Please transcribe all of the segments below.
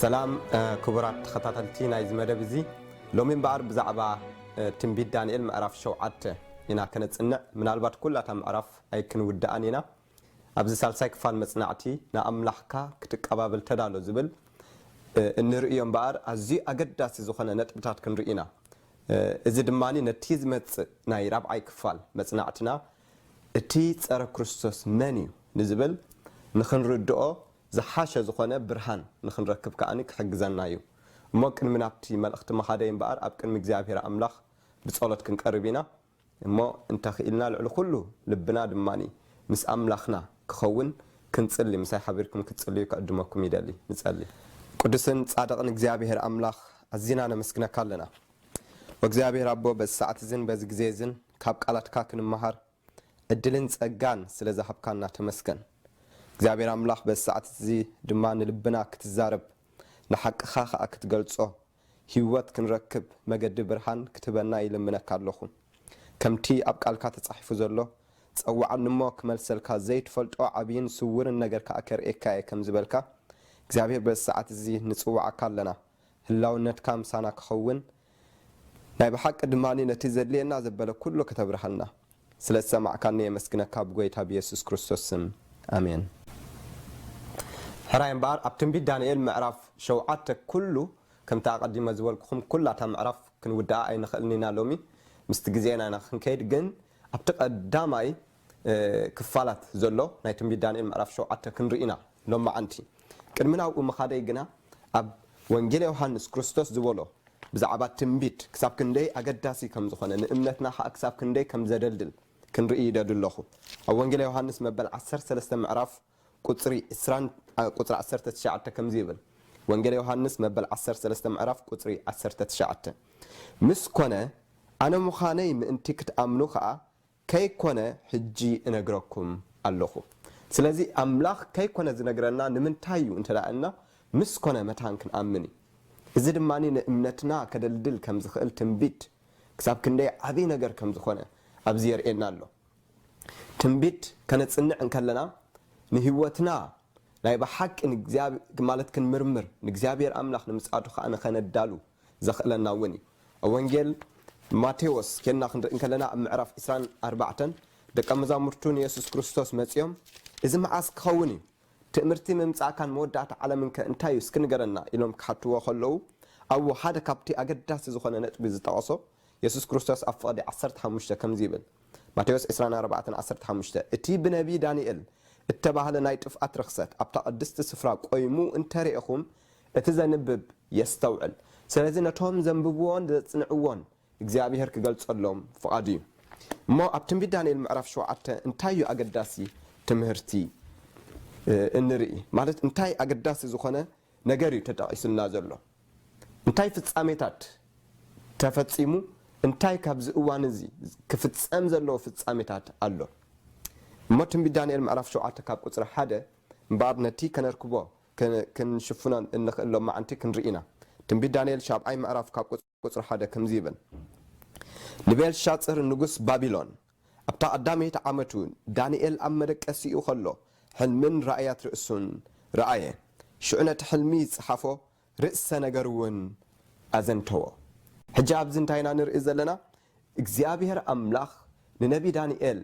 ሰላም ክቡራት ተኸታተልቲ ናይዚ መደብ እዚ ሎሚ እምበኣር ብዛዕባ ትንቢት ዳንኤል ምዕራፍ ሸውዓተ ኢና ከነጽንዕ ምናልባት ኩላታ ምዕራፍ ኣይክንውድኣን ኢና ኣብዚ ሳልሳይ ክፋል መጽናዕቲ ንኣምላኽካ ክትቀባበል ተዳሎ ዝብል እንርእዮ እምበኣር ኣዝዩ ኣገዳሲ ዝኾነ ነጥብታት ክንርኢ ኢና እዚ ድማ ነቲ ዝመጽእ ናይ ራብዓይ ክፋል መጽናዕትና እቲ ጸረ ክርስቶስ መን እዩ ንዝብል ንኽንርድኦ ዝሓሸ ዝኾነ ብርሃን ንኽንረክብ ከኣ ክሕግዘና እዩ። እሞ ቅድሚ ናብቲ መልእኽቲ ምኻደይ እምበኣር ኣብ ቅድሚ እግዚኣብሔር ኣምላኽ ብጸሎት ክንቀርብ ኢና እሞ እንተ ኽኢልና ልዕሊ ኹሉ ልብና ድማ ምስ ኣምላኽና ክኸውን ክንጽሊ ምሳይ ሓቢርኩም ክትጽልዩ ክዕድመኩም ይደሊ። ንጸሊ። ቅዱስን ጻድቕን እግዚኣብሔር ኣምላኽ ኣዚና ነመስግነካ ኣለና። ወእግዚኣብሔር ኣቦ በዚ ሰዓት እዝን በዚ ግዜ እዝን ካብ ቃላትካ ክንመሃር፣ ዕድልን ጸጋን ስለ ዝሃብካና ተመስገን። እግዚኣብሔር ኣምላኽ በዚ ሰዓት እዚ ድማ ንልብና ክትዛረብ ንሓቅኻ ከኣ ክትገልጾ ህይወት ክንረክብ መገዲ ብርሃን ክትህበና ይልምነካ ኣለኹ። ከምቲ ኣብ ቃልካ ተጻሒፉ ዘሎ ጸውዓኒ እሞ ክመልሰልካ ዘይትፈልጦ ዓብይን ስውርን ነገር ከኣ ከርእየካ እየ ከም ዝበልካ እግዚኣብሔር በዚ ሰዓት እዚ ንጽውዓካ ኣለና። ህላውነትካ ምሳና ክኸውን ናይ ብሓቂ ድማ ነቲ ዘድልየና ዘበለ ኩሉ ክተብርሃልና ስለ ዝሰማዕካኒ የመስግነካ ብጎይታ ብየሱስ ክርስቶስ ስም ኣሜን። ሕራይ እምበኣር ኣብ ትንቢት ዳንኤል ምዕራፍ ሸውዓተ ኩሉ ከምቲ ኣቐዲመ ዝበልኩኹም ኩላ እታ ምዕራፍ ክንውድኣ ኣይንኽእልን ኢና ሎሚ ምስቲ ግዜና ኢና ክንከይድ ግን ኣብቲ ቀዳማይ ክፋላት ዘሎ ናይ ትንቢት ዳንኤል ምዕራፍ ሸውዓተ ክንርኢ ኢና ሎምዓንቲ። ቅድሚ ናብኡ ምኻደይ ግና ኣብ ወንጌል ዮሃንስ ክርስቶስ ዝበሎ ብዛዕባ ትንቢት ክሳብ ክንደይ ኣገዳሲ ከም ዝኾነ ንእምነትና ኸኣ ክሳብ ክንደይ ከም ዘደልድል ክንርኢ ይደሊ ኣሎኹ። ኣብ ወንጌል ዮሃንስ መበል ዓሰርተ ሰለስተ ምዕራፍ ቁጽሪ ዕስራን ቁጽሪ ዓሰርተ ትሽዓተ ከምዚ ይብል ወንጌል ዮሃንስ መበል ዓሰርተ ሰለስተ ምዕራፍ ቁጽሪ ዓሰርተ ትሽዓተ ምስ ኮነ ኣነ ምዃነይ ምእንቲ ክትኣምኑ ኸኣ ከይኮነ ሕጂ እነግረኩም ኣሎኹ። ስለዚ ኣምላኽ ከይኮነ ዝነግረና ንምንታይ እዩ እንተ እልና ምስ ኮነ መታን ክንኣምን እዩ። እዚ ድማ ንእምነትና ከደልድል ከም ዝኽእል ትንቢት ክሳብ ክንደይ ዓቢ ነገር ከም ዝኾነ ኣብዚ የርእየና ኣሎ። ትንቢት ከነጽንዕ እንከለና ንህይወትና ናይ ብሓቂ ንእግዚኣብሄ ማለት ክንምርምር ንእግዚኣብሄር ኣምላኽ ንምጽኣቱ ከኣ ንኸነዳሉ ዘኽእለና እውን እዩ። ኣብ ወንጌል ማቴዎስ ኴንና ክንርኢ እንከለና ኣብ ምዕራፍ ዕስራን ኣርባዕተን ደቀ መዛሙርቱ ንየሱስ ክርስቶስ መጺኦም እዚ መዓስ ክኸውን እዩ? ትእምርቲ ምምጻእካን መወዳእታ ዓለምንከ እንታይ እዩ እስኪ ንገረና ኢሎም ክሓትዎ ከለዉ ኣብኡ ሓደ ካብቲ ኣገዳሲ ዝኾነ ነጥቢ ዝጠቐሶ የሱስ ክርስቶስ ኣብ ፍቕዲ ዓሰርተ ሓሙሽተ ከምዚ ይብል ማቴዎስ ዕስራን ኣርባዕተን ዓሰርተ ሓሙሽተ እቲ ብነብዪ ዳንኤል እተባህለ ናይ ጥፍኣት ርኽሰት ኣብታ ቅድስቲ ስፍራ ቆይሙ እንተርኤኹም እቲ ዘንብብ የስተውዕል። ስለዚ ነቶም ዘንብብዎን ዘጽንዕዎን እግዚኣብሄር ክገልጸሎም ፍቓዱ እዩ። እሞ ኣብ ትንቢት ዳንኤል ምዕራፍ ሸውዓተ እንታይ እዩ ኣገዳሲ ትምህርቲ እንርኢ? ማለት እንታይ ኣገዳሲ ዝኾነ ነገር እዩ ተጠቒሱልና ዘሎ? እንታይ ፍጻሜታት ተፈጺሙ? እንታይ ካብዚ እዋን እዚ ክፍጸም ዘለዎ ፍጻሜታት ኣሎ? እሞ ትንቢት ዳንኤል ምዕራፍ ሸውዓተ ካብ ቁጽሪ ሓደ እምበኣር ነቲ ከነርክቦ ክንሽፍኖን እንኽእል ሎማዕንቲ ክንርኢ ኢና። ትንቢት ዳንኤል ሻብዓይ ምዕራፍ ካብ ቁጽሪ ሓደ ከምዚ ይብል፣ ንቤልሻጽር ንጉስ ባቢሎን ኣብታ ቀዳመይቲ ዓመቱ፣ ዳንኤል ኣብ መደቀሲኡ ኸሎ ሕልምን ራእያት ርእሱን ረኣየ፣ ሽዑ ነቲ ሕልሚ ዝጸሓፎ ርእሰ ነገር እውን ኣዘንተዎ። ሕጂ ኣብዚ እንታይ ኢና ንርኢ ዘለና? እግዚኣብሄር ኣምላኽ ንነብዪ ዳንኤል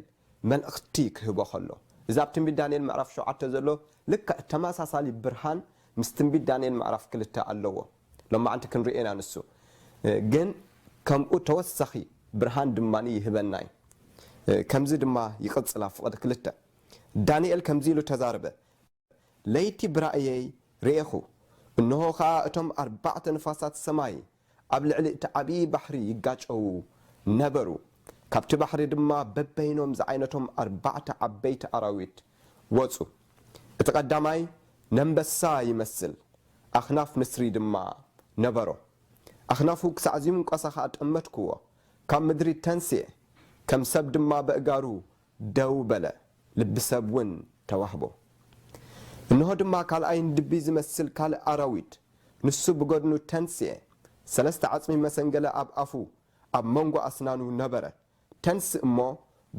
መልእኽቲ ክህቦ ኸሎ፣ እዚ ኣብ ትንቢት ዳንኤል ምዕራፍ ሸውዓተ ዘሎ ልክዕ ተመሳሳሊ ብርሃን ምስ ትንቢት ዳንኤል ምዕራፍ ክልተ ኣለዎ። ሎማዕንቲ ክንርእዮ ኢና ንሱ ግን ከምኡ ተወሳኺ ብርሃን ድማ ይህበና እዩ። ከምዚ ድማ ይቕጽል ኣብ ፍቕዲ ክልተ ዳንኤል ከምዚ ኢሉ ተዛረበ። ለይቲ ብራእየይ ርኤኹ፣ እንሆ ኸኣ እቶም ኣርባዕተ ንፋሳት ሰማይ ኣብ ልዕሊ እቲ ዓብዪ ባሕሪ ይጋጨዉ ነበሩ፣ ካብቲ ባሕሪ ድማ በበይኖም ዝዓይነቶም ኣርባዕተ ዓበይቲ ኣራዊት ወጹ፣ እቲ ቐዳማይ ነንበሳ ይመስል፣ ኣኽናፍ ንስሪ ድማ ነበሮ፣ ኣኽናፉ ክሳዕ ዚምቈሳ ኸኣ ጠመትክዎ፣ ካብ ምድሪ ተንስኤ፣ ከም ሰብ ድማ በእጋሩ ደው በለ፣ ልቢ ሰብ ውን ተዋህቦ። እንሆ ድማ ካልኣይ ንድቢ ዝመስል ካልእ ኣራዊት ንሱ ብገድኑ ተንስኤ፣ ሰለስተ ዓጽሚ መሰንገለ ኣብ ኣፉ ኣብ መንጎ ኣስናኑ ነበረ፣ ተንስእ እሞ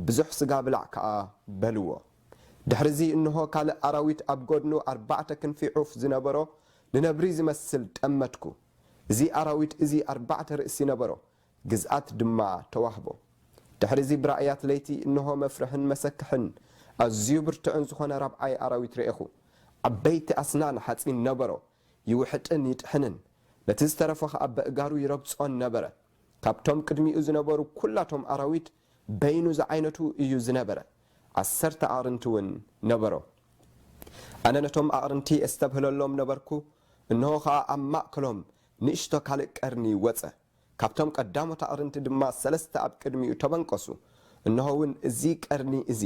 ብዙሕ ስጋ ብላዕ ከኣ በልዎ። ድሕሪዚ እንሆ ካልእ ኣራዊት ኣብ ገድኑ ኣርባዕተ ክንፊ ዑፍ ዝነበሮ ንነብሪ ዝመስል ጠመትኩ፣ እዚ ኣራዊት እዚ ኣርባዕተ ርእሲ ነበሮ፣ ግዝኣት ድማ ተዋህቦ። ድሕሪዚ ብራእያት ለይቲ እንሆ መፍርሕን መሰክሕን ኣዝዩ ብርቱዕን ዝኾነ ራብዓይ ኣራዊት ረኤኹ። ዓበይቲ ኣስናን ሓጺን ነበሮ፣ ይውሕጥን ይጥሕንን፣ ነቲ ዝተረፈ ኸኣ በእጋሩ ይረግጾን ነበረ። ካብቶም ቅድሚኡ ዝነበሩ ኵላቶም ኣራዊት በይኑ ዝዓይነቱ እዩ ዝነበረ፣ ዓሰርተ ኣዕርንቲ እውን ነበሮ። ኣነ ነቶም ኣዕርንቲ ኤስተብህለሎም ነበርኩ፣ እንሆ ኸኣ ኣብ ማእከሎም ንእሽቶ ካልእ ቀርኒ ወጸ። ካብቶም ቀዳሞት ኣቕርንቲ ድማ ሰለስተ ኣብ ቅድሚኡ ተበንቈሱ። እንሆውን እዚ ቀርኒ እዚ፣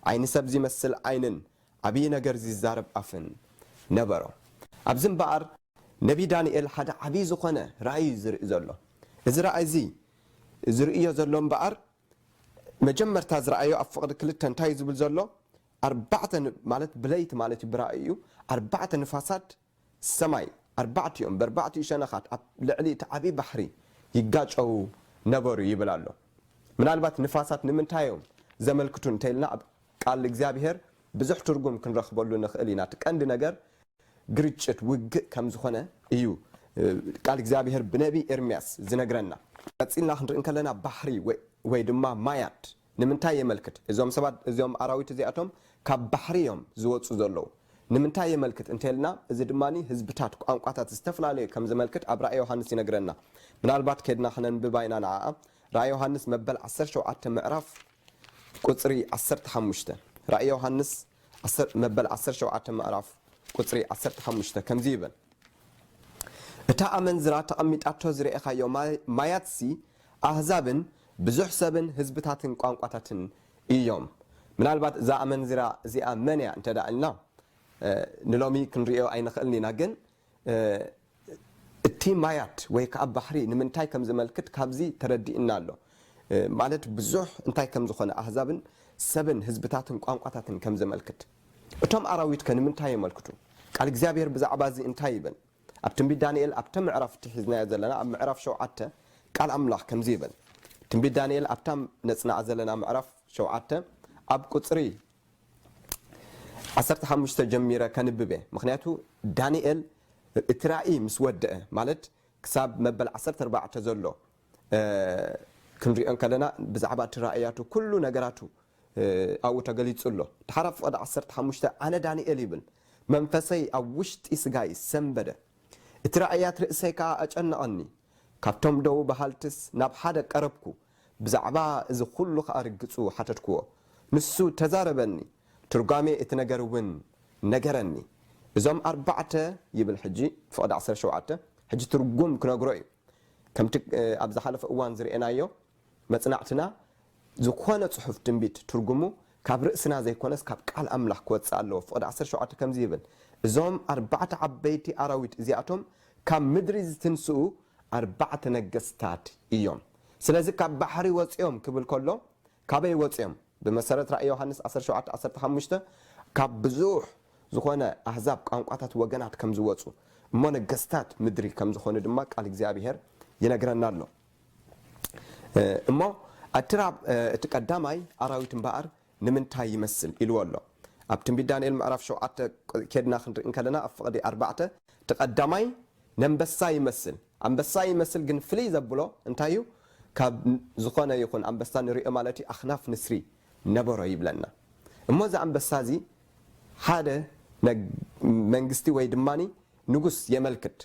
ዓይኒ ሰብ ዚመስል ዓይንን ዓብዪ ነገር ዚዛረብ ኣፍን ነበሮ። ኣብዚ እምበኣር፣ ነብዪ ዳንኤል ሓደ ዓብዪ ዝዀነ ራእይ እዩ ዚርኢ ዘሎ። እዚ ራእይ እዚ ዚርእዮ ዘሎ እምበኣር፣ መጀመርታ ዝረኣዮ ኣብ ፍቕዲ ክልተ እንታይ እዩ ዚብል ዘሎ፣ ኣርባዕተ፣ ማለት ብለይቲ ማለት እዩ ብራእዩ፣ ኣርባዕተ ንፋሳት፣ ሰማይ ኣርባዕቲኦም በርባዕቲኡ ሸነኻት ኣብ ልዕሊ እቲ ዓብዪ ባሕሪ ይጋጨዉ ነበሩ ይብል ኣሎ። ምናልባት ንፋሳት ንምንታይ እዮም ዘመልክቱ እንተኢልና ኣብ ቃል እግዚኣብሄር ብዙሕ ትርጉም ክንረኽበሉ ንኽእል ኢና። እቲ ቀንዲ ነገር ግርጭት፣ ውግእ፣ ከም ዝኾነ እዩ ቃል እግዚኣብሄር ብነብዪ ኤርምያስ ዝነግረና። ቀጺልና ክንርኢ እንከለና ባሕሪ ወይ ድማ ማያት ንምንታይ የመልክት? እዞም ሰባት እዚኦም ኣራዊት እዚኣቶም ካብ ባሕሪ እዮም ዝወጹ ዘለዉ። ንምንታይ የመልክት እንተልና እዚ ድማ ህዝብታት ቋንቋታት ዝተፈላለዩ ከም ዘመልክት ኣብ ራእይ ዮሃንስ ይነግረና። ምናልባት ከድና ክነንብባ ኢና ንዓኣ። ራእይ ዮሃንስ መበል ዓሰርተ ሸውዓተ ምዕራፍ ቁጽሪ ዓሰርተ ሓሙሽተ ራእይ ዮሃንስ። ዓሰር መበል ዓሰርተ ሸውዓተ ምዕራፍ ቁጽሪ ዓሰርተ ሓሙሽተ ከምዚ ይብል እታ ኣመንዝራ ተቐሚጣቶ ዝረኤኻዮ ማያትሲ ኣህዛብን ብዙሕ ሰብን ህዝብታትን ቋንቋታትን ኢዮም። ምናልባት እዛ ኣመንዝራ እዚኣ መን ኢያ እንተ ኢልና ንሎሚ ክንርእዮ ኣይንኽእልን ኢና ግን እቲ ማያት ወይ ከኣ ባሕሪ ንምንታይ ከም ዘመልክት ካብዚ ተረዲእና ኣሎ ማለት ብዙሕ እንታይ ከም ዝኾነ ኣህዛብን ሰብን ህዝብታትን ቋንቋታትን ከም ዘመልክት። እቶም ኣራዊት ከ ንምንታይ የመልክቱ? ቃል እግዚኣብሄር ብዛዕባ እዚ እንታይ ይብል? ኣብ ትንቢት ዳንኤል ኣብተ ምዕራፍ እቲ ሒዝናዮ ዘለና ኣብ ምዕራፍ ሸውዓተ ቃል ኣምላኽ ከምዚ ይብል ትንቢት ዳንኤል ኣብታ ነጽናዓ ዘለና ምዕራፍ ሸውዓተ ኣብ ቁጽሪ ዓሰርተ ሓሙሽተ ጀሚረ ከንብብ እየ ምኽንያቱ ዳንኤል እቲ ራኢ ምስ ወደኣ ማለት ክሳብ መበል ዓሰርተ ኣርባዕተ ዘሎ ክንሪኦ ከለና ብዛዕባ እቲ ራእያቱ ኩሉ ነገራቱ ኣብኡ ተገሊጹ ኣሎ ድሓር ኣብ ፍቕዲ ዓሰርተ ሓሙሽተ ኣነ ዳንኤል ይብል መንፈሰይ ኣብ ውሽጢ ስጋይ ሰንበደ እቲ ራእያት ርእሰይ ከኣ ኣጨነቐኒ ካብቶም ደዉ በሃልትስ ናብ ሓደ ቀረብኩ ብዛዕባ እዚ ዅሉ ኸኣ ርግጹ ሓተትክዎ። ንሱ ተዛረበኒ፣ ትርጓሜ እቲ ነገር እውን ነገረኒ። እዞም ኣርባዕተ ይብል ሕጂ፣ ፍቕዲ ዓሰርተ ሸውዓተ፣ ሕጂ ትርጕም ክነግሮ እዩ። ከምቲ ኣብ ዝሓለፈ እዋን ዝርኤናዮ፣ መጽናዕትና ዝዀነ ጽሑፍ ትንቢት ትርጕሙ ካብ ርእስና ዘይኰነስ ካብ ቃል ኣምላኽ ክወጽእ ኣለዎ። ፍቕዲ ዓሰርተ ሸውዓተ ከምዚ ይብል፣ እዞም ኣርባዕተ ዓበይቲ ኣራዊት እዚኣቶም ካብ ምድሪ ዝትንስኡ ኣርባዕተ ነገስታት እዮም። ስለዚ ካብ ባሕሪ ወጺኦም ክብል ከሎ ካበይ ወጺኦም? ብመሰረት ራእይ ዮሃንስ ዓሰርተ ሸውዓተ ዓሰርተ ሓሙሽተ ካብ ብዙሕ ዝኾነ ኣህዛብ ቋንቋታት ወገናት ከም ዝወጹ እሞ ነገስታት ምድሪ ከም ዝኾኑ ድማ ቃል እግዚኣብሄር ይነግረና ኣሎ እሞ ኣቲ ራብ እቲ ቀዳማይ ኣራዊት እምበኣር ንምንታይ ይመስል ኢልዎ ኣሎ ኣብ ትንቢት ዳንኤል ምዕራፍ ሸውዓተ ኬድና ክንርኢ እንከለና ኣብ ፍቅዲ ኣርባዕተ እቲ ቀዳማይ ነንበሳ ይመስል ኣንበሳ ይመስል ግን ፍልይ ዘብሎ እንታይ እዩ ካብ ዝኮነ ይኩን ኣንበሳ ንሪኦ ማለት እዩ ኣክናፍ ንስሪ ነበሮ ይብለና እሞ እዚ ኣንበሳ እዚ ሓደ መንግስቲ ወይ ድማ ንጉስ የመልክት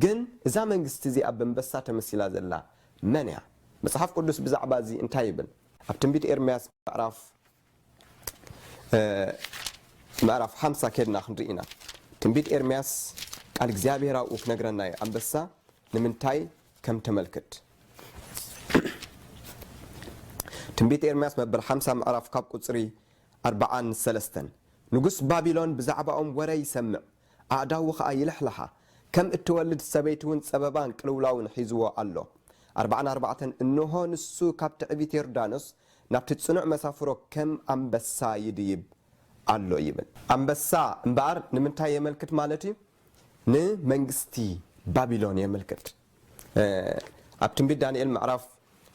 ግን እዛ መንግስቲ እዚኣ በንበሳ ተመሲላ ዘላ መን እያ መጽሓፍ ቅዱስ ብዛዕባ እዚ እንታይ ይብል ኣብ ትንቢት ኤርምያስ ምዕራፍ ምዕራፍ ሓምሳ ኬድና ክንርኢ ኢና ትንቢት ኤርምያስ ቃል እግዚኣብሔር ኣብኡ ክነግረና እዩ ኣንበሳ ንምንታይ ከም ተመልክት ትንቢት ኤርምያስ መበል ሓምሳ ምዕራፍ ካብ ቁፅሪ ኣርብዓን ሰለስተን ንጉስ ባቢሎን ብዛዕባኦም ወረ ይሰምዕ ኣእዳዉ ከኣ ይልሕልሓ። ከም እትወልድ ሰበይቲውን ጸበባን ቅልውላውን ሒዝዎ ኣሎ። ኣርባዓን ኣርባዕተን እንሆ ንሱ ካብ ትዕቢት ዮርዳኖስ ናብቲ ጽኑዕ መሳፍሮ ከም ኣንበሳ ይድይብ ኣሎ ይብል። ኣንበሳ እምበኣር ንምንታይ የመልክት ማለት እዩ? ንመንግስቲ ባቢሎን የመልክት። ኣብ ትንቢት ዳንኤል ምዕራፍ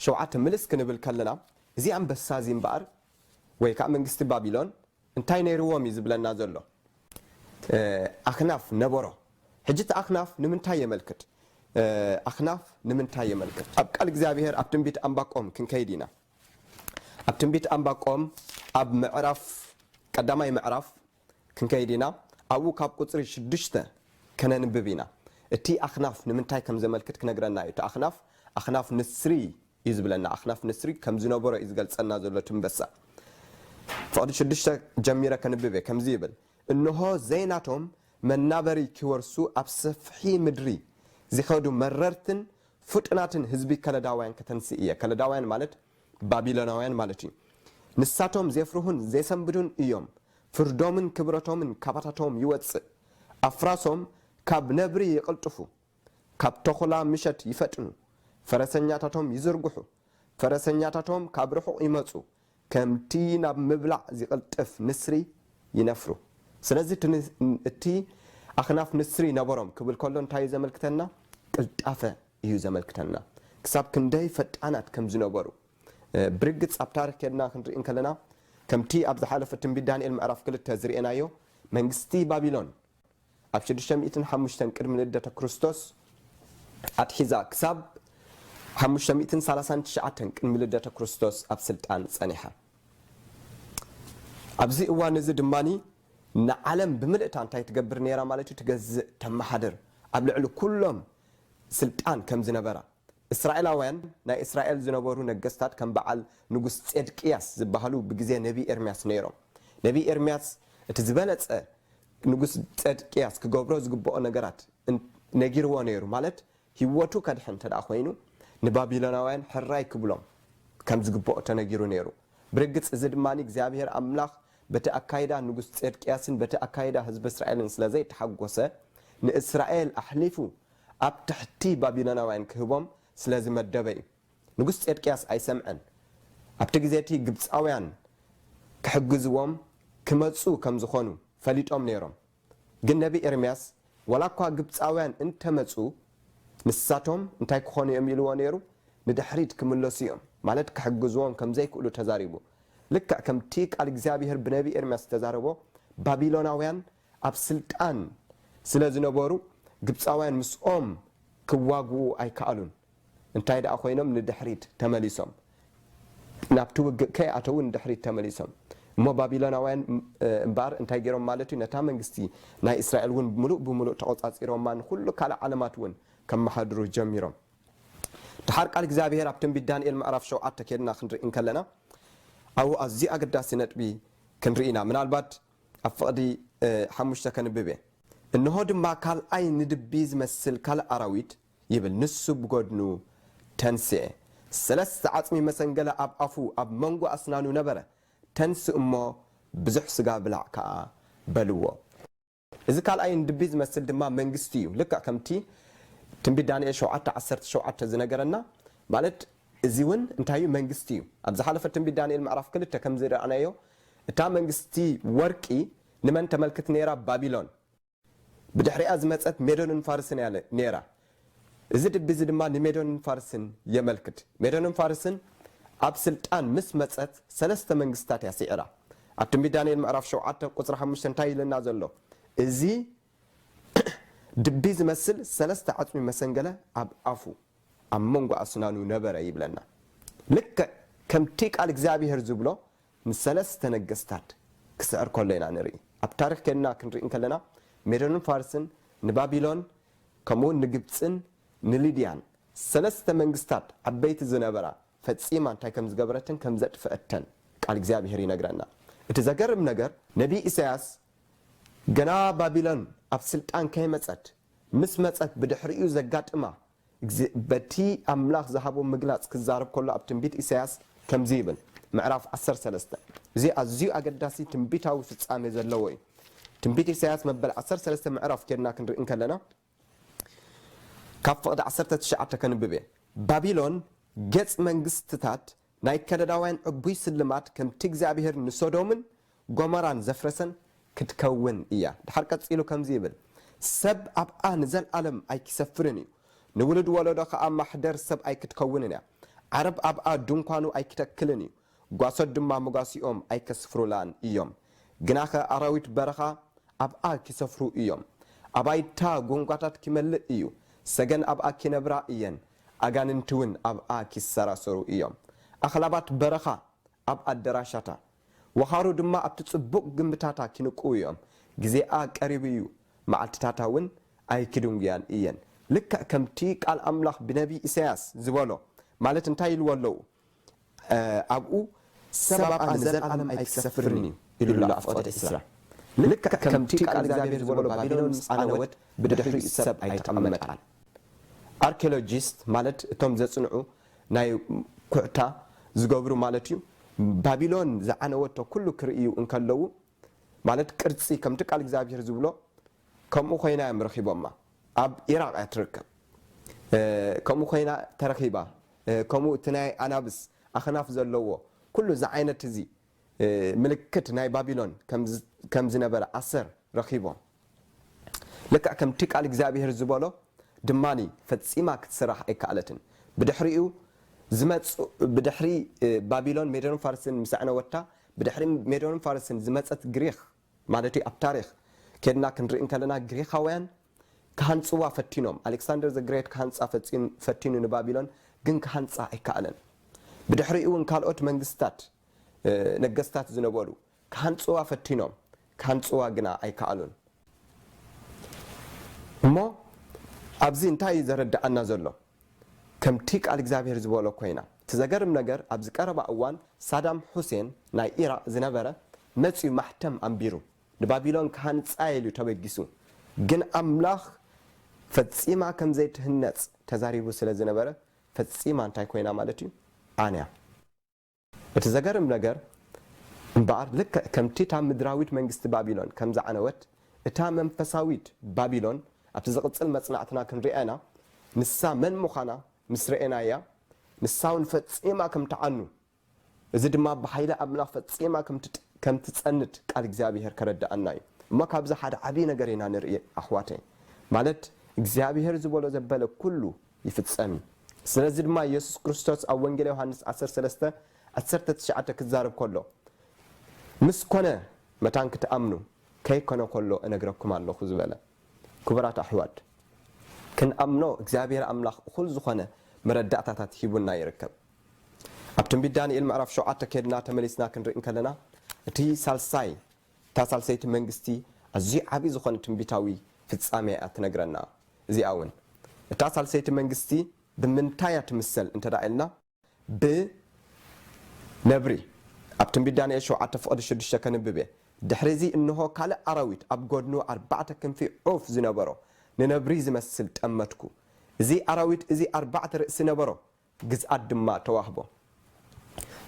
ሸውዓተ ምልስ ክንብል ከለና እዚ ኣንበሳ እዚ እምበኣር ወይ ከኣ መንግስቲ ባቢሎን እንታይ ነይርዎም እዩ ዝብለና ዘሎ ኣክናፍ ነበሮ ሕጂ እቲ ኣክናፍ ንምንታይ የመልክት ኣክናፍ ንምንታይ የመልክት ኣብ ቃል እግዚኣብሄር ኣብ ትንቢት ኣንባቆም ክንከይድ ኢና ኣብ ትንቢት ኣንባቆም ኣብ ምዕራፍ ቀዳማይ ምዕራፍ ክንከይድ ኢና ኣብኡ ካብ ቁፅሪ ሽዱሽተ ከነንብብ ኢና እቲ ኣክናፍ ንምንታይ ከም ዘመልክት ክነግረና እዩ እቲ ኣክናፍ ኣክናፍ ንስሪ እዩ ዝብለና ኣኽናፍ ንስሪ ከም ዝነበሮ እዩ ዝገልጸልና ዘሎ ትንበሳ ፍቕዲ ሽዱሽተ ጀሚረ ከንብብ እየ ከምዚ ይብል እንሆ ዘይናቶም መናበሪ ኪወርሱ ኣብ ሰፍሒ ምድሪ ዚኸዱ መረርትን ፍጡናትን ህዝቢ ከለዳውያን ከተንስእ እየ ከለዳውያን ማለት ባቢሎናውያን ማለት እዩ ንሳቶም ዜፍርሁን ዜሰንብዱን እዮም ፍርዶምን ክብረቶምን ካባታቶም ይወጽእ ኣፍራሶም ካብ ነብሪ ይቕልጥፉ ካብ ተኹላ ምሸት ይፈጥኑ፣ ፈረሰኛታቶም ይዝርግሑ፣ ፈረሰኛታቶም ካብ ርሑቕ ይመጹ፣ ከምቲ ናብ ምብላዕ ዚቕልጥፍ ንስሪ ይነፍሩ። ስለዚ እቲ ኣኽናፍ ንስሪ ነበሮም ክብል ከሎ እንታይ እዩ ዘመልክተና? ቅልጣፈ እዩ ዘመልክተና። ክሳብ ክንደይ ፈጣናት ከም ዝነበሩ። ብርግጽ ኣብ ታሪኽ ኬድና ክንርኢ እንከለና ከምቲ ኣብ ዝሓለፈ ትንቢት ዳንኤል ምዕራፍ ክልተ ዝርኤናዮ መንግስቲ ባቢሎን ኣብ ሽዱሽተ ሚእትን ሓሙሽተን ቅድሚ ልደተ ክርስቶስ ኣትሒዛ ክሳብ ሓሙሽተ ሚእትን ሰላሳን ትሽዓተን ቅድሚ ልደተ ክርስቶስ ኣብ ስልጣን ጸኒሓ። ኣብዚ እዋን እዚ ድማ ንዓለም ብምልእታ እንታይ ትገብር ነይራ ማለት እዩ? ትገዝእ፣ ተመሓድር፣ ኣብ ልዕሊ ኩሎም ስልጣን ከም ዝነበራ፣ እስራኤላውያን፣ ናይ እስራኤል ዝነበሩ ነገስታት ከም በዓል ንጉስ ጼድቅያስ ዝበሃሉ ብግዜ ነብዪ ኤርምያስ ነይሮም። ነብዪ ኤርምያስ እቲ ዝበለጸ ንጉስ ጼድቅያስ ክገብሮ ዝግብኦ ነገራት ነጊርዎ ነይሩ፣ ማለት ህይወቱ ከድሕን እንተ ኰይኑ ንባቢሎናውያን ሕራይ ክብሎም ከም ዝግብኦ ተነጊሩ ነይሩ። ብርግጽ እዚ ድማ እግዚኣብሄር ኣምላኽ በቲ ኣካይዳ ንጉስ ጼድቅያስን በቲ ኣካይዳ ህዝቢ እስራኤልን ስለ ዘይተሓጐሰ ንእስራኤል ኣሕሊፉ ኣብ ትሕቲ ባቢሎናውያን ኪህቦም ስለ ዝመደበ እዩ። ንጉስ ጼድቅያስ ኣይሰምዐን። ኣብቲ ግዜ እቲ ግብጻውያን ኪሕግዝዎም ኪመጹ ከም ዝዀኑ ፈሊጦም ነይሮም። ግን ነብዪ ኤርምያስ ዋላ እኳ ግብጻውያን እንተ መጹ፣ ንሳቶም እንታይ ኪዀኑ እዮም ኢልዎ ነይሩ? ንድሕሪት ኪምለሱ እዮም፣ ማለት ኪሕግዝዎም ከም ዘይክእሉ ተዛሪቡ። ልክዕ ከምቲ ቃል እግዚኣብሄር ብነብዪ ኤርምያስ እተዛረቦ፣ ባቢሎናውያን ኣብ ስልጣን ስለ ዝነበሩ ግብጻውያን ምስኦም ክዋግኡ ኣይከኣሉን። እንታይ ደኣ ኮይኖም ንድሕሪት ተመሊሶም። ናብቲ ውግእ ከይኣተዉ ንድሕሪት ተመሊሶም። እሞ ባቢሎናውያን እምበኣር እንታይ ገይሮም ማለት እዩ፣ ነታ መንግስቲ ናይ እስራኤል እውን ምሉእ ብምሉእ ተቖጻጺሮማ፣ ንዅሉ ካልእ ዓለማት እውን ከመሓድሩ ጀሚሮም። ደሓር ቃል እግዚኣብሄር ኣብ ትንቢት ዳንኤል ምዕራፍ ሸውዓተ ኬድና ክንርኢ እንከለና ኣብኡ ኣዝዩ ኣገዳሲ ነጥቢ ክንርኢ ኢና። ምናልባት። ኣብ ፍቕዲ ሓሙሽተ ከንብብ እየ። እንሆ ድማ ካልኣይ ንድቢ ዝመስል ካልእ ኣራዊት፣ ይብል ንሱ ብጐድኑ ተንስኤ። ሰለስተ ዓጽሚ መሰንገለ ኣብ ኣፉ ኣብ መንጎ ኣስናኑ ነበረ። ተንስእ እሞ ብዙሕ ስጋ ብላዕ ከኣ፣ በልዎ። እዚ ካልኣይ ንድቢ ዝመስል ድማ መንግስቲ እዩ፣ ልክዕ ከምቲ ትንቢት ዳንኤል ሸውዓተ ዓሰርተ ሸውዓተ ዝነገረና ማለት እዚ እውን እንታይ እዩ መንግስቲ እዩ። ኣብ ዝሓለፈ ትንቢት ዳንኤል ምዕራፍ ክልተ ከም ዝረኣናዮ እታ መንግስቲ ወርቂ ንመን ተመልክት ነይራ? ባቢሎን። ብድሕሪኣ ዝመጸት ሜዶንን ፋርስን እያ ነይራ። እዚ ድቢ እዚ ድማ ንሜዶንን ፋርስን የመልክት። ሜዶንን ፋርስን ኣብ ስልጣን ምስ መጸት ሰለስተ መንግስትታት እያ ስዒራ። ኣብ ትንቢት ዳንኤል ምዕራፍ ሸውዓተ ቁጽሪ ሓሙሽተ እንታይ እዩ ኢለና ዘሎ? እዚ ድቢ ዝመስል ሰለስተ ዓጽሚ መሰንገለ ኣብ ኣፉ፣ ኣብ መንጎ ኣስናኑ፣ ነበረ ይብለና። ልክዕ ከምቲ ቃል እግዚኣብሄር ዝብሎ ምስ ሰለስተ ነገስታት ክስዕር ከሎ ኢና ንርኢ። ኣብ ታሪኽ ኴንና ክንርኢ እንከለና፣ ሜዶንን ፋርስን ንባቢሎን ከምኡውን ንግብጽን ንሊድያን፣ ሰለስተ መንግስታት ዓበይቲ ዝነበራ፣ ፈጺማ እንታይ ከም ዝገበረትን ከም ዘጥፍአተን ቃል እግዚኣብሄር ይነግረና። እቲ ዘገርም ነገር፣ ነብዪ ኢሳይያስ ገና ባቢሎን ኣብ ስልጣን ከይመጸት፣ ምስ መጸት ብድሕሪኡ ዘጋጥማ እግዚእ በቲ ኣምላኽ ዝሃቦ ምግላጽ ክዛረብ ከሎ ኣብ ትንቢት ኢሳይያስ ከምዚ ይብል፣ ምዕራፍ ዓሰርተ ሰለስተ፣ እዚ ኣዝዩ ኣገዳሲ ትንቢታዊ ፍጻሜ ዘለዎ እዩ። ትንቢት ኢሳይያስ መበል ዓሰርተ ሰለስተ ምዕራፍ ኬድና ክንርኢ እንከለና ካብ ፍቕዲ ዓሰርተ ትሽዓተ ከንብብ እየ፣ ባቢሎን ገጽ መንግስትታት ናይ ከለዳውያን ዕቡይ ስልማድ ከምቲ እግዚኣብሄር ንሶዶምን ጎመራን ዘፍረሰን ክትከውን እያ ድሓር ቀጺሉ ከምዚ ይብል ሰብ ኣብኣ ንዘልኣለም ኣይኪሰፍርን እዩ ንውሉድ ወለዶ ከኣ ማሕደር ሰብ ኣይክትከውንን እያ ዓረብ ኣብኣ ዱንኳኑ ኣይኪተክልን እዩ ጓሶት ድማ መጓሲኦም ኣይከስፍሩላን እዮም ግናኸ ኣራዊት በረኻ ኣብኣ ኪሰፍሩ እዮም ኣባይታ ጎንጓታት ኪመልእ እዩ ሰገን ኣብኣ ኪነብራ እየን ኣጋንንቲውን ኣብኣ ኺሰራሰሩ እዮም። ኣኽላባት በረኻ ኣብ ኣደራሻታ፣ ወኻሩ ድማ ኣብቲ ጽቡቕ ግምብታታ ኺንቅዉ እዮም። ግዜኣ ቀሪቡ እዩ፣ መዓልትታታውን ኣይኪድንጕያን እየን። ልክዕ ከምቲ ቃል ኣምላኽ ብነብዪ ኢሳይያስ ዝበሎ ማለት እንታይ ኢልዎ ኣለዉ? ኣብኡ ሰብ ኣብኣ ንዘልኣለም ኣይኪሰፍርን እዩ ኢሉ ኣሎ ኣፍቆደ ዕስራ። ልክዕ ከምቲ ቃል እግዚኣብሄር ዝበሎ ባቢሎን ምስ ዓነወት ብድሕሪኡ ሰብ ኣይተቐመጣን። ኣርኪሎጂስት ማለት እቶም ዘጽንዑ ናይ ኩዕታ ዝገብሩ ማለት እዩ ባቢሎን ዝዓነወቶ ኩሉ ክርእዩ እንከለዉ ማለት ቅርጺ ከምቲ ቃል እግዚኣብሄር ዝብሎ ከምኡ ኮይና እዮም ረኺቦማ ኣብ ኢራቅ እያ ትርከብ ከምኡ ኮይና ተረኺባ ከምኡ እቲ ናይ ኣናብስ ኣኽናፍ ዘለዎ ኩሉ እዚ ዓይነት እዚ ምልክት ናይ ባቢሎን ከም ዝነበረ ኣሰር ረኺቦም ልክዕ ከምቲ ቃል እግዚኣብሄር ዝበሎ ድማ ፈጺማ ክትስራሕ ኣይከኣለትን። ብድሕሪኡ ዝመጽ ብድሕሪ ባቢሎን ሜዶንን ፋርስን ምስ ኣዕነወታ ብድሕሪ ሜዶንን ፋርስን ዝመጸት ግሪኽ ማለት እዩ ኣብ ታሪኽ ኬድና ክንርኢ እንከለና ግሪኻውያን ክሃንጽዋ ፈቲኖም ኣሌክሳንደር ዘ ግሬት ክሃንጻ ፈቲኑ ንባቢሎን ግን ክሃንጻ ኣይከኣለን ብድሕሪኡ እውን ካልኦት መንግስታት ነገስታት ዝነበሩ ክሃንጽዋ ፈቲኖም ክሃንጽዋ ግና ኣይከኣሉን። እሞ ኣብዚ እንታይ እዩ ዘረድኣና ዘሎ? ከምቲ ቃል እግዚኣብሄር ዝበሎ ኮይና። እቲ ዘገርም ነገር ኣብዚ ቀረባ እዋን ሳዳም ሑሴን ናይ ኢራቅ ዝነበረ መጽዩ ማሕተም ኣንቢሩ ንባቢሎን ክሃንጻ እየ ኢሉ ተበጊሱ ግን ኣምላኽ ፈጺማ ከም ዘይትህነጽ ተዛሪቡ ስለ ዝነበረ ፈጺማ እንታይ ኮይና ማለት እዩ ዓንያ። እቲ ዘገርም ነገር እምበኣር፣ ልክዕ ከምቲ እታ ምድራዊት መንግስቲ ባቢሎን ከም ዝዓነወት፣ እታ መንፈሳዊት ባቢሎን ኣብቲ ዝቕጽል መጽናዕትና ክንርእያ ኢና፣ ንሳ መን ምዃና ምስ ረኤናያ፣ ንሳውን ፈጺማ ከም ትዓኑ፣ እዚ ድማ ብሓይሊ ኣምላኽ ፈጺማ ከም ትጸንት ቃል እግዚኣብሄር ከረድኣና ኢዩ። እሞ ካብዚ ሓደ ዓቢ ነገር ኢና ንርኢ ኣሕዋተይ፣ ማለት እግዚኣብሄር ዝበሎ ዘበለ ኩሉ ይፍጸም። ስለዚ ድማ የሱስ ክርስቶስ ኣብ ወንጌል ዮሃንስ ዓሰርተ ሰለስተ ዓሰርተ ትሽዓተ ክዛረብ ከሎ ምስ ኮነ መታን ክትኣምኑ ከይኮነ ከሎ እነግረኩም ኣሎኹ ዝበለ። ክቡራት ኣሕዋት ክንኣምኖ እግዚኣብሄር ኣምላኽ እኹል ዝኾነ መረዳእታታት ሂቡና ይርከብ። ኣብ ትንቢት ዳንኤል ምዕራፍ ሸውዓተ ኬድና ተመሊስና ክንርኢ እንከለና እቲ ሳልሳይ እታ ሳልሰይቲ መንግስቲ ኣዝዩ ዓቢ ዝኾነ ትንቢታዊ ፍጻሜ እያ እትነግረና። እዚኣ እውን እታ ሳልሰይቲ መንግስቲ ብምንታይ እያ ትምሰል እንተድኣ ኢልና ብ ነብሪ ኣብ ትንቢት ዳንኤል ሸውዓተ ፍቕዲ ሽዱሽተ ከንብብ እየ። ድሕሪ እዚ እንሆ ካልእ ኣራዊት ኣብ ጎድኑ ኣርባዕተ ክንፊ ዑፍ ዝነበሮ ንነብሪ ዝመስል ጠመትኩ። እዚ ኣራዊት እዚ ኣርባዕተ ርእሲ ነበሮ ግዝኣት ድማ ተዋህቦ።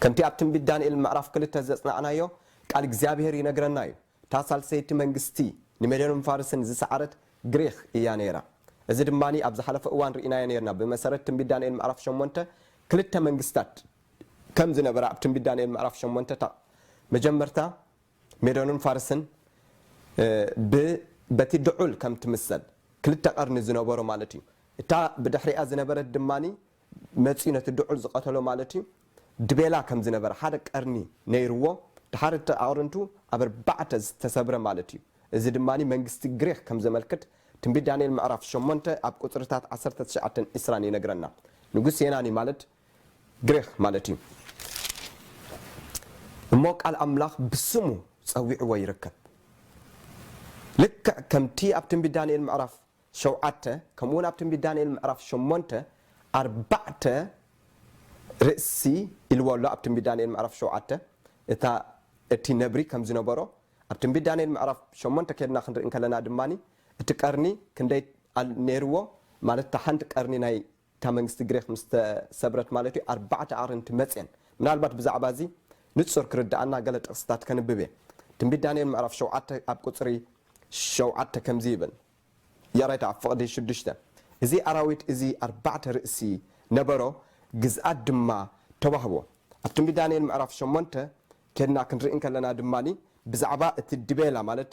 ከምቲ ኣብ ትንቢት ዳንኤል ምዕራፍ ክልተ ዘጽናዕናዮ፣ ቃል እግዚኣብሄር ይነግረና እዩ፣ እታ ሳልሰይቲ መንግስቲ ንሜዶንን ፋርስን ዝሰዓረት ግሪኽ እያ ነይራ። እዚ ድማ ኣብ ዝሓለፈ እዋን ርኢናዮ ኔርና፣ ብመሰረት ትንቢት ዳንኤል ምዕራፍ ሸሞንተ ክልተ መንግስታት ከም ዝነበራ ኣብ ትንቢት ዳንኤል ምዕራፍ ሸሞንተ እታ መጀመርታ፣ ሜዶንን ፋርስን ብ በቲ ድዑል ከም ትምሰል ክልተ ቀርኒ ዝነበሮ ማለት እዩ። እታ ብድሕሪኣ ዝነበረት ድማ መጺኡ ነቲ ድዑል ዝቐተሎ ማለት እዩ። ድቤላ ከም ዝነበረ ሓደ ቀርኒ ነይርዎ። ድሓር እቲ ኣቕርንቱ ኣብ ኣርባዕተ ዝተሰብረ ማለት እዩ። እዚ ድማ መንግስቲ ግሪኽ ከም ዘመልክት ትንቢት ዳንኤል ምዕራፍ ሸሞንተ ኣብ ቁጽርታት ዓሰርተ ትሽዓተን ዕስራን ይነግረና። ንጉስ የናኒ ማለት ግሪኽ ማለት እዩ እሞ ቃል ኣምላኽ ብስሙ ጸዊዕዎ ይርከብ ልክዕ ከምቲ ኣብ ትንቢት ዳንኤል ምዕራፍ ሸውዓተ ከምኡውን ኣብ ትንቢት ዳንኤል ምዕራፍ ሸሞንተ ኣርባዕተ ርእሲ ኢልዎ ኣሎ ኣብ ትንቢት ዳንኤል ምዕራፍ ሸውዓተ እታ እቲ ነብሪ ከም ዝነበሮ ኣብ ትንቢት ዳንኤል ምዕራፍ ሸሞንተ ከድና ክንርኢ ከለና ድማ እቲ ቀርኒ ክንደይ ነይርዎ ማለት እታ ሓንቲ ቀርኒ ናይ እታ መንግስቲ ግሪኽ ምስ ተሰብረት ማለት እዩ፣ ኣርባዕተ ኣቕርንቲ መጽየን። ምናልባት ብዛዕባ እዚ ንጹር ክርድኣና ገለ ጥቕስታት ከንብብ እየ። ትንቢት ዳንኤል ምዕራፍ ሸውዓተ ኣብ ቍጽሪ ሸውዓተ ከምዚ ይብል፣ ያሬት ኣብ ፍቕዲ ሽዱሽተ፣ እዚ ኣራዊት እዚ ኣርባዕተ ርእሲ ነበሮ፣ ግዝኣት ድማ ተዋህቦ። ኣብ ትንቢት ዳንኤል ምዕራፍ ሸሞንተ ኬድና ክንርኢ እንከለና ድማ ብዛዕባ እቲ ድቤላ ማለት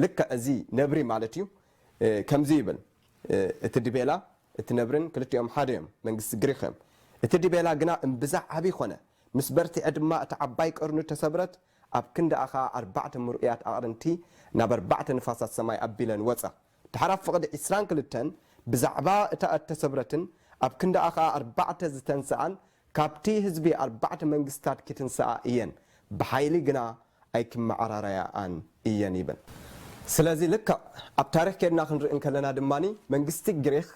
ልክዕ እዚ ነብሪ ማለት እዩ ከምዚ ይብል እቲ ዲቤላ እቲ ነብርን ክልቲኦም ሓደ እዮም መንግስቲ ግሪኽ እዮም እቲ ዲቤላ ግና እምብዛ ዓቢ ኮነ ምስ በርትዔ ድማ እታ ዓባይ ቀርኑ ተሰብረት ኣብ ክንድኣ ከኣ ኣርባዕተ ምርኡያት ኣቕርንቲ ናብ ኣርባዕተ ንፋሳት ሰማይ ኣቢለን ወጻ ድሓር ኣብ ፍቕዲ ዕስራን ክልተን ብዛዕባ እታ እተሰብረትን ኣብ ክንዳኣ ኸኣ ኣርባዕተ ዝተንስኣን ካብቲ ህዝቢ ኣርባዕተ መንግስትታት ኪትንስኣ እየን፣ ብሓይሊ ግና ኣይኪመዓራረያኣን እየን ይብል። ስለዚ ልክዕ ኣብ ታሪኽ ኬድና ክንርኢ እንከለና ድማ መንግስቲ ግሪኽ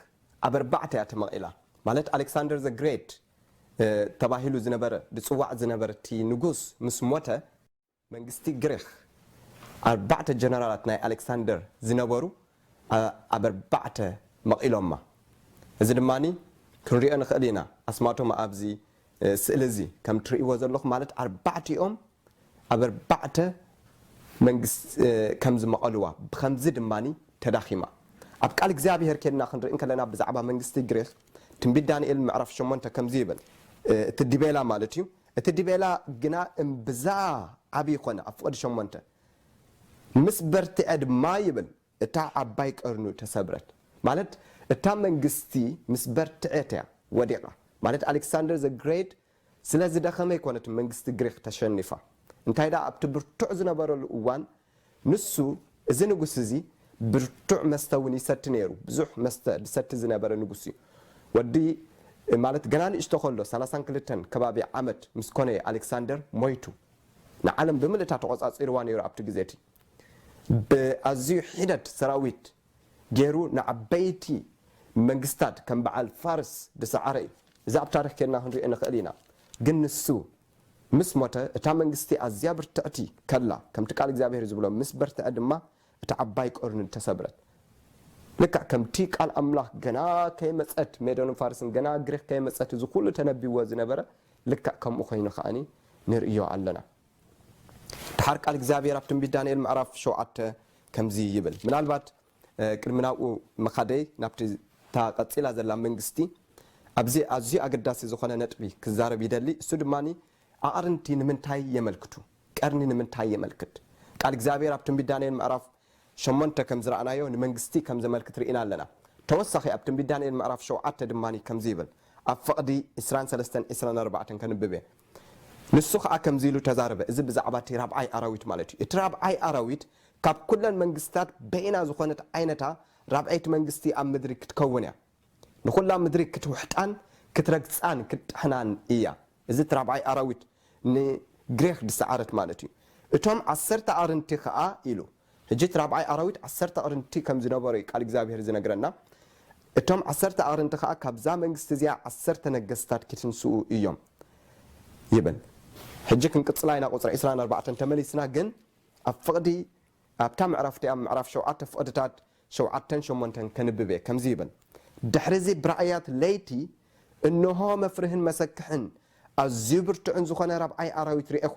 ኣብ ኣርባዕተ እያ ተመቒላ። ማለት ኣሌክሳንደር ዘ ግሬት ተባሂሉ ዝነበረ ዝጽዋዕ ዝነበረ እቲ ንጉስ ምስ ሞተ፣ መንግስቲ ግሪኽ ኣርባዕተ ጀነራላት ናይ ኣሌክሳንደር ዝነበሩ ኣብ ኣርባዕተ መቒሎማ። እዚ ድማ ክንሪኦ ንኽእል ኢና፣ ኣስማቶም ኣብዚ ስእሊ እዚ ከም ትርእይዎ ዘለኹም ማለት ኣርባዕቲኦም ኣብ ኣርባዕተ መንግስት ከም ዝመቐልዋ ብኸምዚ ድማ ተዳኺማ። ኣብ ቃል እግዚኣብሄር ኬድና ክንርኢ እንከለና ብዛዕባ መንግስቲ ግሪኽ ትንቢት ዳንኤል ምዕራፍ ሸሞንተ ከምዚ ይብል እቲ ዲቤላ ማለት እዩ እቲ ዲቤላ ግና እምብዛ ዓብዪ ዀነ፣ ኣብ ፍቕዲ ሸሞንተ ምስ በርትዐ ድማ ይብል፣ እታ ዓባይ ቀርኑ ተሰብረት፣ ማለት እታ መንግስቲ ምስ በርትዔት እያ ወዲቓ፣ ማለት ኣሌክሳንደር ዘ ግሬት ስለ ዝደኸመ ኣይኰነትን መንግስቲ ግሪኽ ተሸኒፋ፣ እንታይ ደኣ ኣብቲ ብርቱዕ ዝነበረሉ እዋን ንሱ፣ እዚ ንጉስ እዚ፣ ብርቱዕ መስተ እውን ይሰቲ ነይሩ፣ ብዙሕ መስተ ዝሰቲ ዝነበረ ንጉስ እዩ። ወዲ፣ ማለት ገና ንእሽቶ ከሎ፣ ሰላሳን ክልተን ከባቢ ዓመት ምስ ኮነ እየ ኣሌክሳንደር ሞይቱ። ንዓለም ብምልእታ ተቖጻጺርዋ ነይሩ ኣብቲ ግዜ እቲ። ብኣዝዩ ሒደት ሰራዊት ገይሩ ንዓበይቲ መንግስታት ከም በዓል ፋርስ ዝሰዓረ እዩ። እዚ ኣብ ታሪኽ ኬድና ክንሪኦ ንኽእል ኢና። ግን ንሱ ምስ ሞተ እታ መንግስቲ ኣዝያ ብርትዕቲ ከላ ከምቲ ቃል እግዚኣብሄር ዝብሎ ምስ በርትዐ ድማ እታ ዓባይ ቀርኑ ተሰብረት። ልክዕ ከምቲ ቃል ኣምላኽ ገና ከይመጸት ሜዶንን ፋርስን ገና ግሪኽ ከይመጸት እዚ ኩሉ ተነቢዎ ዝነበረ ልክዕ ከምኡ ኮይኑ ከኣ ንርእዮ ኣለና። ደሓር ቃል እግዚኣብሄር ኣብ ትንቢት ዳንኤል ምዕራፍ ሸውዓተ ከምዚ ይብል ምናልባት ቅድሚ ናብኡ ምኻደይ ናብቲ እታ ቀጺላ ዘላ መንግስቲ ኣብዚ ኣዝዩ ኣገዳሲ ዝኾነ ነጥቢ ክዛረብ ይደሊ እሱ ድማ ኣቕርንቲ ንምንታይ የመልክቱ ቀርኒ ንምንታይ የመልክት ቃል እግዚኣብሔር ኣብ ትንቢት ዳንኤል ምዕራፍ ሸሞንተ ከም ዝረኣናዮ ንመንግስቲ ከም ዘመልክት ርኢና ኣለና ተወሳኺ ኣብ ትንቢት ዳንኤል ምዕራፍ ሸውዓተ ድማ ከምዚ ይብል ኣብ ፍቕዲ ዕስራን ሰለስተን ዕስራን ኣርባዕተን ከንብብ እየ ንሱ ኸኣ ከምዚ ኢሉ ተዛረበ እዚ ብዛዕባ እቲ ራብዓይ ኣራዊት ማለት እዩ እቲ ራብዓይ ኣራዊት ካብ ኩለን መንግስትታት በይና ዝኾነት ዓይነታ ራብዐይቲ መንግስቲ ኣብ ምድሪ ክትከውን እያ። ንኹላ ምድሪ ክትውሕጣን ክትረግጻን ክትጥሕናን እያ። እዚ እቲ ራብዓይ ኣራዊት ንግሪኽ ዝሰዓረት ማለት እዩ። እቶም ዓሰርተ ኣዕርንቲ ከኣ ኢሉ። ሕጂ እቲ ራብዓይ ኣራዊት ዓሰርተ ኣዕርንቲ ከም ዝነበሮ እዩ ቃል እግዚኣብሄር ዝነግረና። እቶም ዓሰርተ ኣዕርንቲ ከኣ ካብዛ መንግስቲ እዚኣ ዓሰርተ ነገስታት ክትንስኡ እዮም ይብል። ሕጂ ክንቅጽላ ኢና ቁጽሪ ዕስራን ኣርባዕተን ተመሊስና ግን ኣብ ፍቕዲ ኣብታ ምዕራፍ እቲኣ ምዕራፍ ሸውዓተ ፍቕድታት ሸውዓተን ሸሞንተን ከንብብ እየ። ከምዚ ይብል፣ ድሕርዚ ብራእያት ለይቲ እንሆ መፍርህን መሰክሕን ኣዝዩ ብርቱዕን ዝኾነ ራብዓይ ኣራዊት ርኤኹ።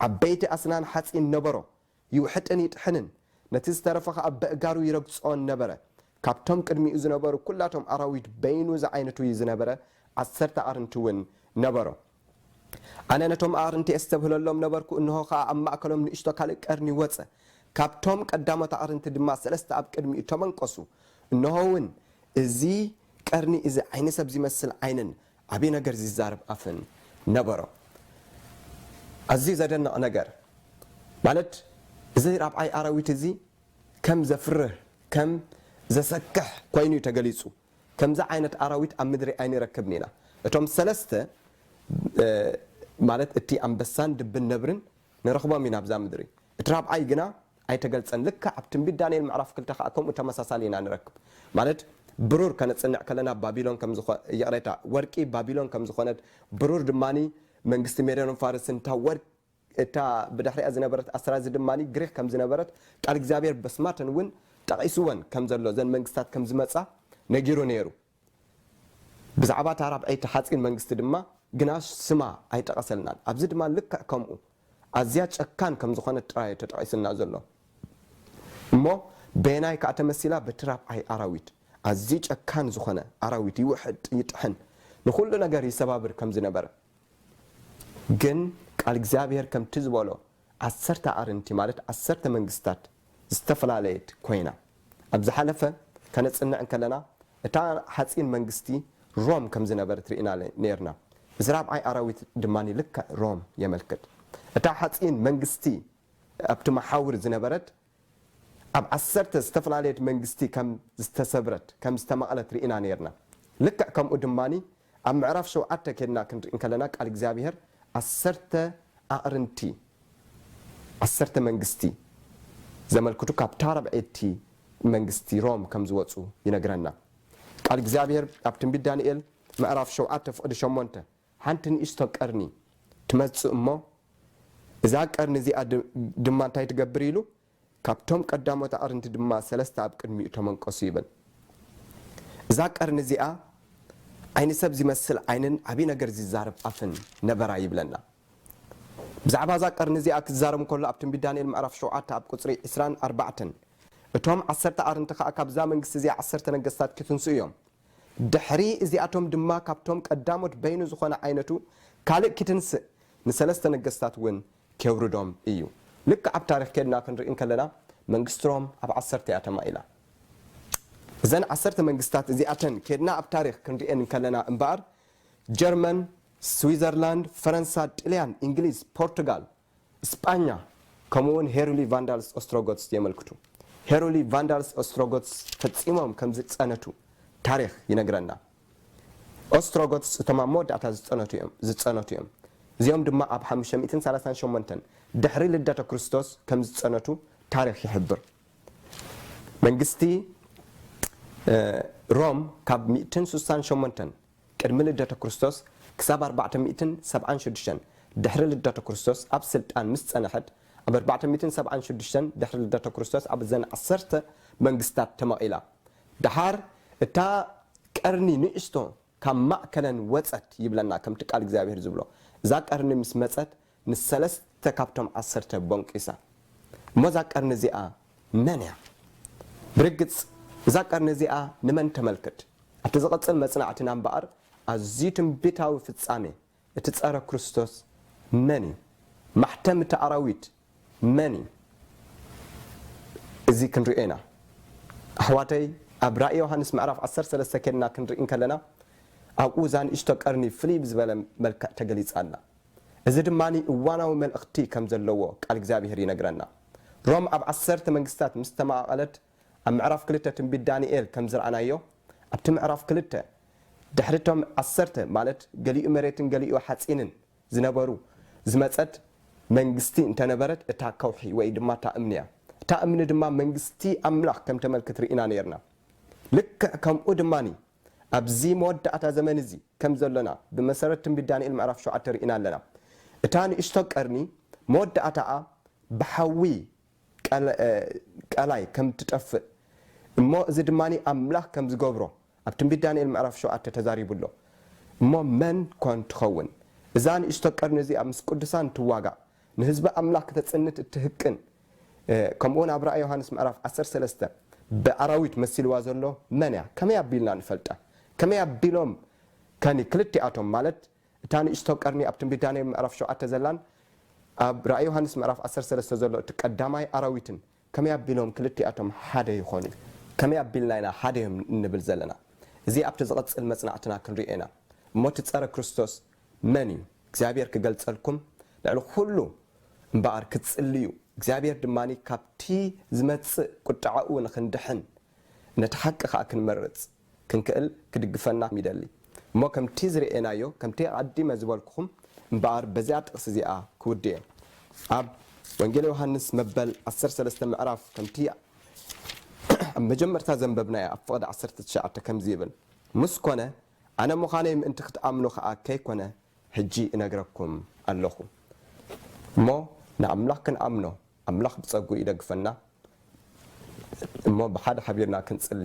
ዓበይቲ ኣስናን ሓጺን ነበሮ፣ ይውሕጥን ይጥሕንን፣ ነቲ ዝተረፈ ኸኣ በእጋሩ ይረግጾን ነበረ። ካብቶም ቅድሚኡ ዝነበሩ ኩላቶም ኣራዊት በይኑ ዝዓይነቱ እዩ ዝነበረ፣ ዓሰርተ ኣርንቲውን ነበሮ። ኣነ ነቶም ኣዕርንቲ ኤስተብህለሎም ነበርኩ፣ እንሆ ኸኣ ኣብ ማእከሎም ንእሽቶ ካልእ ቀርኒ ወጸ፣ ካብቶም ቀዳሞት ኣዕርንቲ ድማ ሰለስተ ኣብ ቅድሚኡ ተመንቈሱ፣ እንሆውን እዚ ቀርኒ እዚ ዓይኒ ሰብ ዚመስል ዓይንን ዓብዪ ነገር ዚዛረብ ኣፍን ነበሮ። ኣዝዩ ዘደንቕ ነገር ማለት እዚ ራብዓይ ኣራዊት እዚ ከም ዘፍርህ ከም ዘሰክሕ ኰይኑ እዩ ተገሊጹ። ከምዚ ዓይነት ኣራዊት ኣብ ምድሪ ኣይንረክብን ኢና። እቶም ሰለስተ፣ ማለት እቲ ኣንበሳን ድብን ነብርን፣ ንረኽቦም ኢና ኣብዛ ምድሪ። እቲ ራብዓይ ግና ኣይተገልጸን። ልክዕ ኣብ ትንቢት ዳንኤል ምዕራፍ ክልተ ከኣ ከምኡ ተመሳሳሊ ኢና ንረክብ። ማለት ብሩር ከነጽንዕ ከለና ባቢሎን ከም ዝኾ ይቕሬታ ወርቂ ባቢሎን ከም ዝኾነት ብሩር ድማ መንግስቲ ሜዶንን ፋርስን እታ ወርቂ እታ ብድሕሪኣ ዝነበረት ኣስራዚ ድማ ግሪኽ ከም ዝነበረት ቃል እግዚኣብሄር በስማተን እውን ጠቒስወን ከም ዘሎ እዘን መንግስታት ከም ዝመጻ ነጊሩ ነይሩ። ብዛዕባ እታ ራብዐይቲ ሓጺን መንግስቲ ድማ ግና ስማ ኣይጠቐሰልናን። ኣብዚ ድማ ልክዕ ከምኡ ኣዝያ ጨካን ከም ዝኾነት ጥራይ እዩ ተጠቒሱልና ዘሎ። እሞ በየናይ ከኣ ተመሲላ በቲ ራብዓይ ኣራዊት ኣዝዩ ጨካን ዝኾነ ኣራዊት ይውሕጥ ይጥሕን ንኹሉ ነገር ይሰባብር ከም ዝነበረ። ግን ቃል እግዚኣብሔር ከምቲ ዝበሎ ዓሰርተ ኣዕርንቲ ማለት ዓሰርተ መንግስታት ዝተፈላለየት ኮይና። ኣብ ዝሓለፈ ከነጽንዕ እንከለና እታ ሓጺን መንግስቲ ሮም ከም ዝነበረት ርኢና ኔርና። እዚ ራብዓይ ኣራዊት ድማ ልክዕ ሮም የመልክት። እታ ሓጺን መንግስቲ ኣብቲ መሓውር ዝነበረት ኣብ ዓሰርተ ዝተፈላለየት መንግስቲ ከም ዝተሰብረት፣ ከም ዝተማቕለት ርኢና ኔርና። ልክዕ ከምኡ ድማ ኣብ ምዕራፍ ሸውዓተ ኬድና ክንርኢ እንከለና ቃል እግዚኣብሄር ዓሰርተ ኣቕርንቲ፣ ዓሰርተ መንግስቲ፣ ዘመልክቱ ካብታ ራብዐይቲ መንግስቲ ሮም ከም ዝወጹ ይነግረና። ቃል እግዚኣብሄር ኣብ ትንቢት ዳንኤል ምዕራፍ ሸውዓተ ፍቕዲ ሸሞንተ ሓንቲ ንእሽቶ ቀርኒ ትመጽእ እሞ፣ እዛ ቀርኒ እዚኣ ድማ እንታይ ትገብር ኢሉ፣ ካብቶም ቀዳሞት ኣዕርንቲ ድማ ሰለስተ ኣብ ቅድሚኡ ተመንቈሱ ይብል። እዛ ቀርኒ እዚኣ ዓይኒ ሰብ ዚመስል ዓይንን ዓብዪ ነገር ዚዛረብ ኣፍን ነበራ ይብለና። ብዛዕባ እዛ ቀርኒ እዚኣ ኪዛረብ እንከሎ ኣብ ትንቢት ዳንኤል ምዕራፍ ሸውዓተ ኣብ ቍጽሪ ዕስራን ኣርባዕተን እቶም ዓሰርተ ኣዕርንቲ ኸኣ ካብዛ መንግስቲ እዚኣ ዓሰርተ ነገስታት ኪትንስኡ እዮም፣ ድሕሪ እዚኣቶም ድማ ካብቶም ቀዳሞት በይኑ ዝኾነ ዓይነቱ ካልእ ኪትንስእ ንሰለስተ ነገስታት እውን ኬውርዶም እዩ። ልክዕ ኣብ ታሪኽ ኬድና ክንርኢ እንከለና መንግስቲ ሮም ኣብ ዓሰርተ እያ ተማኢላ። እዘን ዓሰርተ መንግስታት እዚኣተን ኬድና ኣብ ታሪኽ ክንርእየን እንከለና እምበኣር ጀርመን፣ ስዊዘርላንድ፣ ፈረንሳ፣ ጥልያን፣ እንግሊዝ፣ ፖርቱጋል፣ ስጳኛ ከምኡውን ሄሩሊ ቫንዳልስ ኦስትሮጎትስ የመልክቱ። ሄሩሊ ቫንዳልስ ኦስትሮጎትስ ፈጺሞም ከም ዝጸነቱ ታሪኽ ይነግረና። ኦስትሮጎትስ እቶም ኣብ መወዳእታ ዝጸነቱ እዮም ዝጸነቱ እዮም። እዚኦም ድማ ኣብ ሓሙሽተ ሚእትን ሰላሳን ሸሞንተን ድሕሪ ልደተ ክርስቶስ ከም ዝጸነቱ ታሪኽ ይሕብር። መንግስቲ ሮም ካብ ሚእትን ስሳን ሸሞንተን ቅድሚ ልደተ ክርስቶስ ክሳብ ኣርባዕተ ሚእትን ሰብዓን ሹዱሽተን ድሕሪ ልደተ ክርስቶስ ኣብ ስልጣን ምስ ጸንሐት ኣብ ኣርባዕተ ሚእትን ሰብዓን ሹዱሽተን ድሕሪ ልደተ ክርስቶስ ኣብ እዘን ዓሰርተ መንግስታት ተመቒላ ደሓር እታ ቀርኒ ንእሽቶ ካብ ማእከለን ወጸት ይብለና ከምቲ ቃል እግዚኣብሄር ዝብሎ እዛ ቀርኒ ምስ መጸት ምስ ሰለስተ ካብቶም ዓሰርተ ቦንቂሳ። እሞ እዛ ቀርኒ እዚኣ መን እያ? ብርግጽ እዛ ቀርኒ እዚኣ ንመን ተመልክት? ኣብቲ ዝቕጽል መጽናዕትና እምበኣር ኣዝዩ ትንቢታዊ ፍጻሜ እቲ ጸረ ክርስቶስ መን እዩ? ማሕተም እቲ ኣራዊት መን እዩ? እዚ ክንርእዮ ኢና። ኣሕዋተይ ኣብ ራኢ ዮሃንስ ምዕራፍ ዓሰርተ ሰለስተ ኬድና ክንርኢ እንከለና ኣብኡ እዛ ንእሽቶ ቀርኒ ፍልይ ብዝበለ መልክዕ ተገሊጻ ኣላ። እዚ ድማ እዋናዊ መልእኽቲ ከም ዘለዎ ቃል እግዚኣብሄር ይነግረና። ሮም ኣብ ዓሰርተ መንግስትታት ምስ ተመቓቐለት ኣብ ምዕራፍ ክልተ ትንቢት ዳንኤል ከም ዝረኣናዮ ኣብቲ ምዕራፍ ክልተ ድሕሪ እቶም ዓሰርተ ማለት ገሊኡ መሬትን ገሊኡ ሓጺንን ዝነበሩ ዝመጸት መንግስቲ እንተ ነበረት እታ ከውሒ ወይ ድማ እታ እምኒ እያ። እታ እምኒ ድማ መንግስቲ ኣምላኽ ከም ተመልክት ርኢና ኔርና። ልክዕ ከምኡ ድማ ኣብዚ መወዳእታ ዘመን እዚ ከም ዘሎና ብመሰረት ትንቢት ዳንኤል ምዕራፍ ሸውዓተ ርኢና ኣለና። እታ ንእሽቶ ቀርኒ መወዳእታኣ ብሓዊ ቀላይ ከም እትጠፍእ እሞ እዚ ድማ ኣምላኽ ከም ዝገብሮ ኣብ ትንቢት ዳንኤል ምዕራፍ ሸውዓተ ተዛሪቡ ኣሎ። እሞ መን ኰን ትኸውን እዛ ንእሽቶ ቀርኒ እዚኣ ምስ ቅዱሳን ትዋጋእ ንህዝቢ ኣምላኽ ክተጽንት እትህቅን ከምኡውን ኣብ ራእይ ዮሃንስ ምዕራፍ ዓሰርተ ሰለስተ ብኣራዊት መሲልዋ ዘሎ መን እያ? ከመይ ኣቢልና ንፈልጣ? ከመይ ኣቢሎም ከኒ ክልቲኣቶም ማለት እታ ንእሽቶ ቀርኒ ኣብ ትንቢት ዳንኤል ምዕራፍ ሸውዓተ ዘላን ኣብ ራእይ ዮሃንስ ምዕራፍ ዓሰርተ ሰለስተ ዘሎ እቲ ቀዳማይ ኣራዊትን ከመይ ኣቢሎም ክልቲኣቶም ሓደ ይኾኑ? ከመይ ኣቢልና ኢና ሓደ ኢዮም እንብል ዘለና? እዚ ኣብቲ ዝቕጽል መጽናዕትና ክንርእዮ ኢና። እሞ እቲ ጸረ ክርስቶስ መን ኢዩ? እግዚኣብሄር ክገልጸልኩም ልዕሊ ኩሉ እምበኣር ክትጽልዩ፣ እግዚኣብሄር ድማ ካብቲ ዝመጽእ ቁጥዓኡ ንኽንድሕን ነቲ ሓቂ ከኣ ክንመርጽ፣ ክንክእል ክድግፈና ይደሊ። እሞ ከምቲ ዝርኤናዮ ከምቲ ኣቐዲመ ዝበልኩኹም እምበኣር በዚኣ ጥቕሲ እዚኣ ክውድእየ። ኣብ ወንጌል ዮሃንስ መበል ዓሰርተ ሰለስተ ምዕራፍ ከምቲ ኣብ መጀመርታ ዘንበብናዮ ኣብ ፍቕዲ ዓሰርተ ትሽዓተ ከምዚ ይብል ምስ ኮነ ኣነ ምዃነይ ምእንቲ ክትኣምኑ ከኣ ከይኮነ ሕጂ እነግረኩም ኣለኹ። እሞ ንኣምላኽ ክንኣምኖ ኣምላኽ ብጸግኡ ይደግፈና እሞ ብሓደ ሓቢርና ክንጽሊ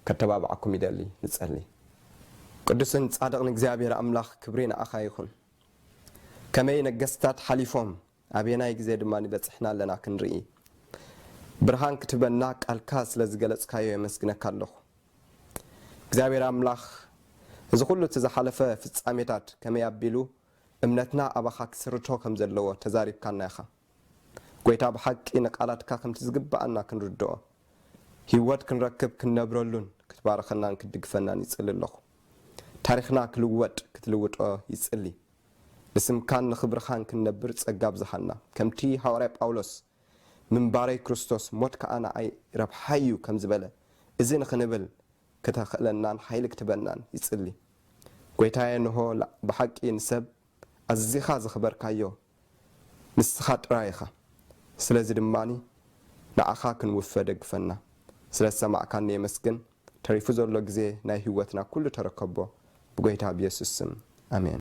ከተባብዓኩም ይደሊ ንጸሊ። ቅዱስን ጻድቕን እግዚኣብሔር ኣምላኽ ክብሪ ንዓኻ ይኹን። ከመይ ነገስታት ሓሊፎም ኣበየናይ ግዜ ድማ በጺሕና ኣለና ክንርኢ ብርሃን ክትህበና ቃልካ ስለ ዝገለጽካዮ የመስግነካ ኣለኹ እግዚኣብሔር ኣምላኽ እዚ ኩሉ እቲ ዝሓለፈ ፍጻሜታት ከመይ ኣቢሉ እምነትና ኣባኻ ክስርቶ ከም ዘለዎ ተዛሪብካና ኢኻ። ጎይታ ብሓቂ ንቃላትካ ከምቲ ዝግብኣና ክንርድኦ ሂወት ክንረክብ ክንነብረሉን ክትባርኸናን ክትድግፈናን ይጽሊ ኣለኹ ታሪኽና ክልወጥ ክትልውጦ ይጽሊ ንስምካን ንኽብርኻን ክንነብር ጸጋ ኣብዝሓና ከምቲ ሃዋርያ ጳውሎስ ምንባረይ ክርስቶስ ሞት ከኣ ንዓይ ረብሓይ እዩ ከም ዝበለ እዚ ንኽንብል ክተኽእለናን ሓይሊ ክትበናን ይጽሊ ጎይታየ ንሆ ብሓቂ ንሰብ ኣዚኻ ዘኽበርካዮ ንስኻ ጥራይ ኢኻ ስለዚ ድማ ንዓኻ ክንውፈ ደግፈና። ስለ ዝሰማዕካኒ የመስግን ተሪፉ ዘሎ ግዜ ናይ ሂወትና ኩሉ ተረከቦ ብጎይታ ብየሱስ ስም ኣሜን።